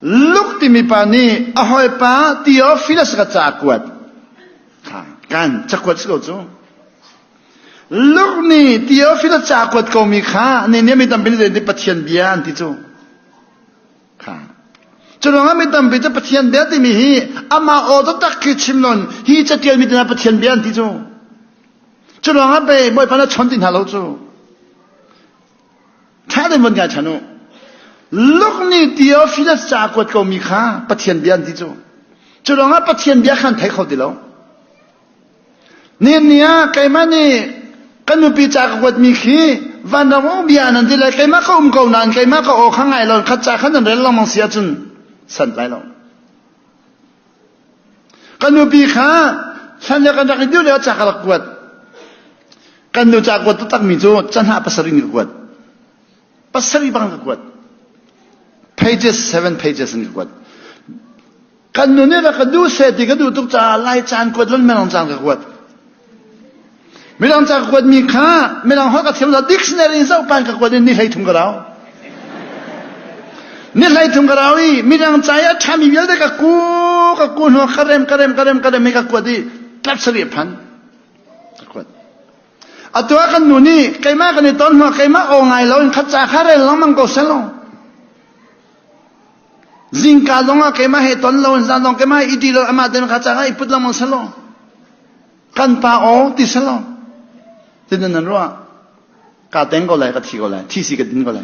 Luke timi pa nih a hawipa Theophilus ka ca kuat. Kan cakuat si ko cu. Luke nih Theophilus ca kuat komi kha ni nih mi tampi nih zeitin Pathian bia an ti cu. Kha. Cu ruangah mi tampi cu Pathian bia timi hi amah aw taktak khi chim nawn hi ca tialmi tinak Pathian bia an ti cu. Cu ruangah bei Bawipa na chon ti hna lo cu. Ṭha tein vun ngaihchan u. Luk ni Theophilus ca a kuat komi kha Pathian bia an ti cu. Cu lawngah Pathian bia kha an thei kho ti lo. Nihin ni ah keimah nih kan nupi ca ka kuatmi khi vanram um bia nan ti lai keimah ka um ko nain keimah ka aw kha ngai lo khat ca kha nan rel lengmang si ahcun sant lai lo. Kan nupi kha hlan le kan rak i dir le ca ka rak kuat. Kan nu ca kuat takmi cu canah pasarih in ka kuat. Pasarih bang ka kuat. Pages, seven pages in ka kuat. Kan nu nih rak ka duh se ti ka duh tuk caah lai caan kuat van men caan ka kuat. Midang ca ka kuatmi kha midang holh ka thiam zah dictionary in zoh pan ka kuat in ni hlei thum ka rau. Ni hlei thum ka rau i midang ca i a ṭhami vialte ka ku ka ku hnuah ka rem ka rem ka rem ka rem i ka kuat i tlap sari a phan. Ka kuat. Atu ah kan nu nih keimah kan i ton hnuah keimah aw ngai lo in khat ca kha rel lengmang ko selaw. Zingka zongah keimah he ton lo, zan zong keimah he i ti lo, amah ten kha cangah i put lengmang salo. Kan pa aw ti salo. Tinan nan ruah? Ka teng ko lai, ka thi ko lai, thi si ka din ko lai.